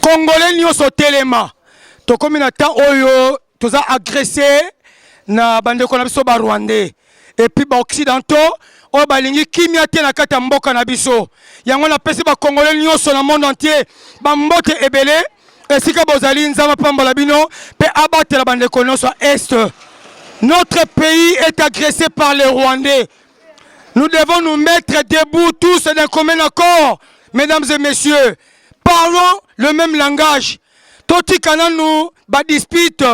Congolais nioso telema tokomi na temps oyo toza agresse na bandeko na biso ba rwandais epuis ba occidentaux oyo balingi kimia te na kati ya mboka na biso yango napesi bakongole nyonso na monde entier bambote ebele esika bozali nzambe apambola bino mpe abatela bandeko nyonso ya est notre pays est agressé par les rwandais nous devons nous mettre debout tous d'un commun accord mesdames et messieurs parlons le même langage totika nanu badispute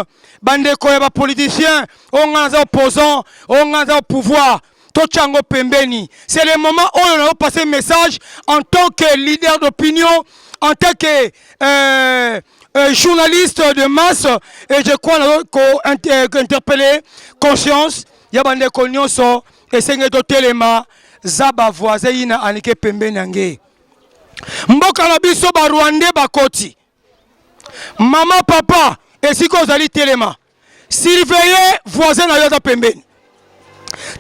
bandeko ya bapoliticien oyo ngai naza opposant oyo ngai naza au pouvoir totya yango pembeni c'est le moment oyo nayo passe message en tant que leader d'opinion en tant que euh, euh, journaliste de masse et je crois nayo kointerpelle euh, conscience ya bandeko nyonso esengeli totelema za bavoisin yina anike pembeni yange mboka na biso barwandais bakoti Mama papa esika ozali telema, surveiller voisin na yo aza pembeni,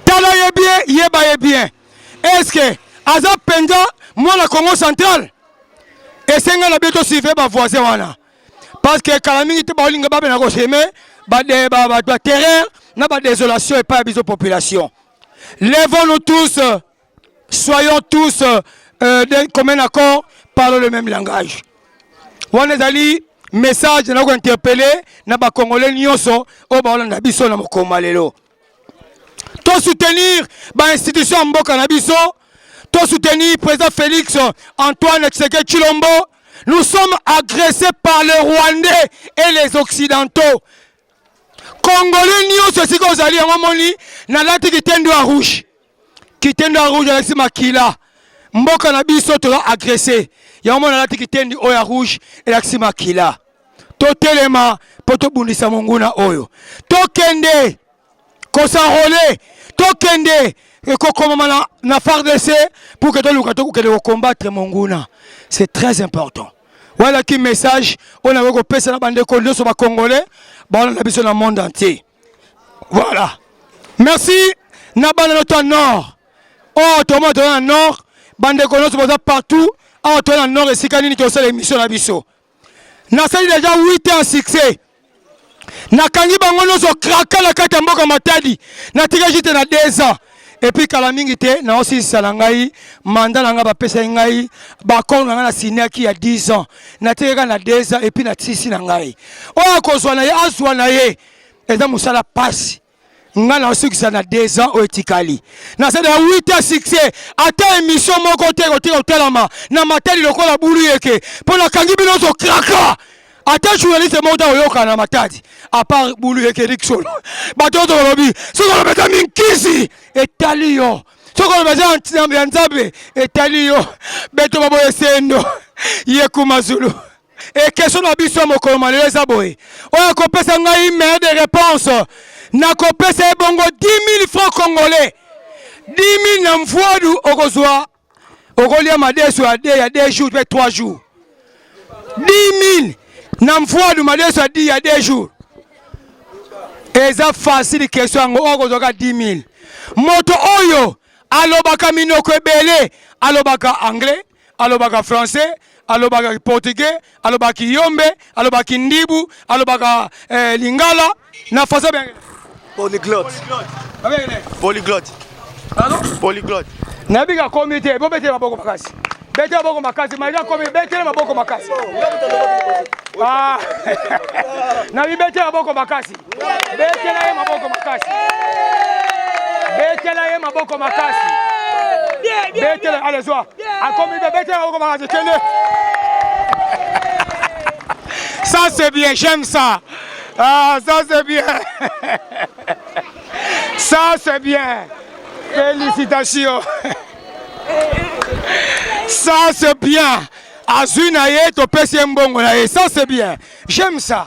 tala ye bien, yeba ye bien, eske aza mpenza mwana Congo central? Esenga na biso surveiller ba voisin wana parce que kala mingi te baolinga babena ko semer ba terreur na ba desolation epai ya biso population. Levons-nous tous! soyons tous euh, euh, d'un commun accord parlons le même langage wana ezali message na kointerpele na bakongole nyonso oyo baolanda biso na mokoma lelo tosoutenir bainstitution ya mboka na biso tosoutenir président félix antoine tseke chilombo nous sommes agressés par le rwandais et les occidentaux congolais nyonso esika ozali yango omoni nalati kitendo ya rouge kitendo ya rouge alakisi makila mboka na biso toza agrese yango mwana alati kitendi oyo ya rouge elakisi makila totelema mpo tobundisa monguna oyo tokende kosanrole tokende ekokomama na, na fardc pour que toluka tokokende kocombattre monguna c'est très important walaki message oyo nakoki kopesa na bandeko nyonso bacongolais baona na biso na monde entier Voilà. Merci na bana notre nord. Oh, toma toma nord, bande konoso boza partout. Ah, toi na nord esika nini to sala émission na biso. Na sali déjà 8 ans succès. Na kangi bango noso kraka na kati mboka matadi. Na tika jite na 2 ans. epuis kala mingi te naosilisa na ngai manda na ngai bapesaki ngai bakor na ngai na siniaki ya 10 ans natikaka na 2 ans epuis na tisi na ngai oyo akozwa na ye azwa na ye eza mosala pasi nga naosukisa na 2 ans oyo etikali nasala ya 8 ans succès ata emission moko te kotika kotalama na matali lokola bulu yeke mpo nakangi bino ozo kraka ata journaliste moko ta koyoka na matadi apart bulu ekerik solo bato oyo tokolobi soki oloba eza minkisi etali yo soki oloba eza ya nzambe etali yo beto baboye sendo yekuma zulu ekestion na biso ya mokolo malelo eza boye oyo akopesa ngai meilleur de réponse nakopesa ye bongo 10 000 francs congolais 10 000 na mvuadu okozwa okolia madesu ya de ya deux jours mpe trois jours 10000 na mfuadu madesu ya di ya deux jours eza fasili kestion yango oyo kozwaka 10000 moto oyo alobaka minoko ebele alobaka anglais alobaka français alobaka portugais, alobaka kiyombe, alobaka kindibu, alobaka eh, lingala na faso bengele. Polyglotte. Polyglotte. Pardon? Polyglotte. Nayebi ka komi te, bo betele maboko makasi. Betele maboko makasi, maika komi betele maboko makasi. Ah. Na bibetele maboko makasi. betela ye maboko makasi betela ye maboko makasi betela ale zwa akomi be betela maboko makasi kende ça c'est bien j'aime ça ah ça c'est bien ça c'est bien félicitations ça c'est bien azwi na ye topesi ye mbongo na ye ça c'est bien j'aime ça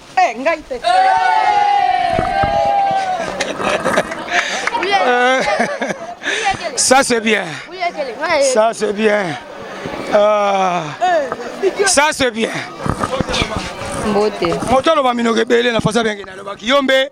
Eh, ngai te. Euh, ça c'est bien. Ça c'est bien. Euh, ça c'est bien. Mbote. Moto aloba minoko ebele na fasa benge nalobaki yo mbe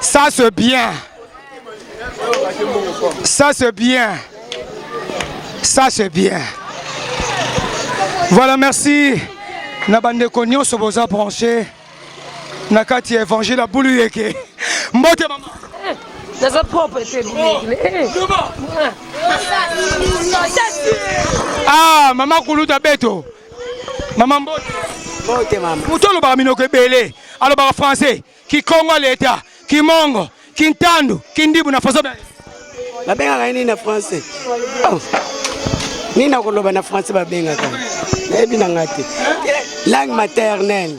Ça c'est bien. Ça c'est bien. Ça c'est bien. Voilà, merci. Na bande konyo so boza branché. Na kati évangile à boulu yeke. Mbote maman. Ça ça propre c'est bien. Ah, maman Koulouta Beto. mama mbote mbote mama moto alobaka minoko ebele alobaka français kikongo leta kimongo kintandu kindibu na faso babengaka ye nini na français oh. nini nakoloba na français babengaka nayebi na ngai te langue maternelle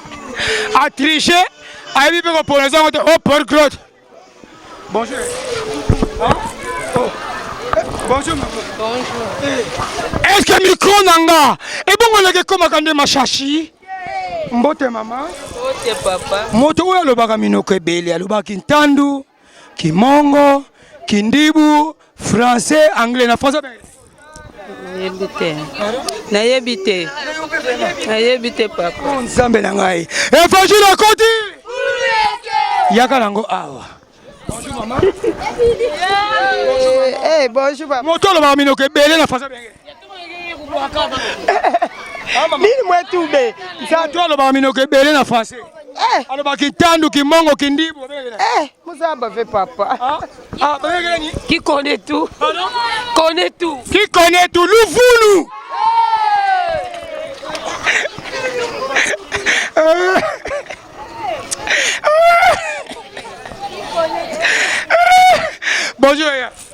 a tricher ayebi mpe kopona eza yango te o port claude bonjour bonjour est ce que micro na nga ebongo leke ekomaka nde mashashi mbote mama mbote papa moto oyo alobaka minoko ebele alobaki ntandu Kimongo, Kindibu, Français, Anglais na Français. Nayebi te. Nayebi te. Nayebi te papa. Oh, Nzambe na ngai. Evangile akoti. Yaka nango awa. Bonjour maman. Eh, eh bonjour papa. Motolo ba minoko ebele na Français. nini mwetube nzambe alobaka minoko ebele na français eh. alobaka kitandu kimongo kindibu eh, mozaba ve papa ah, ah, qui connaît tout connaît tout qui connaît tout luvulu bonjour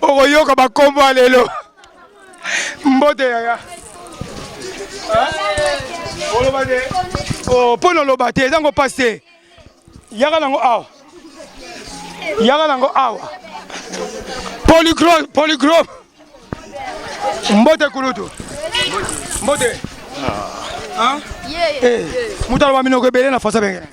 okoyoka bakombo ya lelo mbote yaya oloba te oh, mpo noloba te eza ngo mpasi te yaka nango awa yaka nango awa polygrome mbote kulutu mbote ah. ah. eh, moto aloba minoko ebele na fasa bengene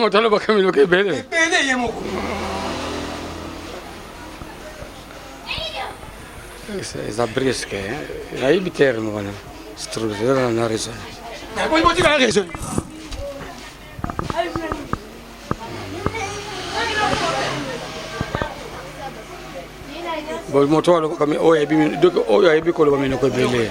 moto alobaka minoko ebele ebele ye moko eza briske nayebi terme wana structure na raison nakoki botika na raison moto alobaka oyo ayebi koloba minoko ebele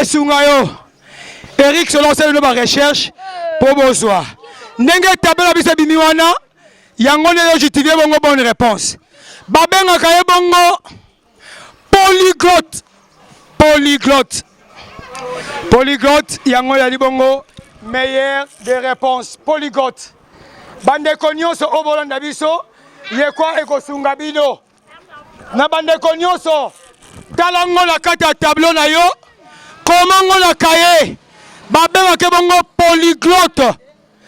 esunga yo eric solo osali no barecherche mpo bozwa ndenge tablo na biso ebimi wana yango nde ezojutifie bongo bonne réponse babengaka ye bongo polyglotte polyglotte polyglotte yango yali bongo meilleur de réponse polyglotte bandeko nyonso oyo bolanda biso yekwa ekosunga bino na bandeko nyonso tala ngo na kati ya tableau na yo koma ngo na kaye babengaka bongo polyglotte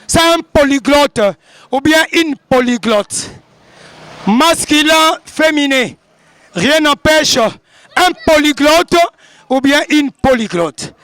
c'est un polyglotte ou bien une polyglotte masculin féminin rien n'empêche un polyglotte ou bien une polyglotte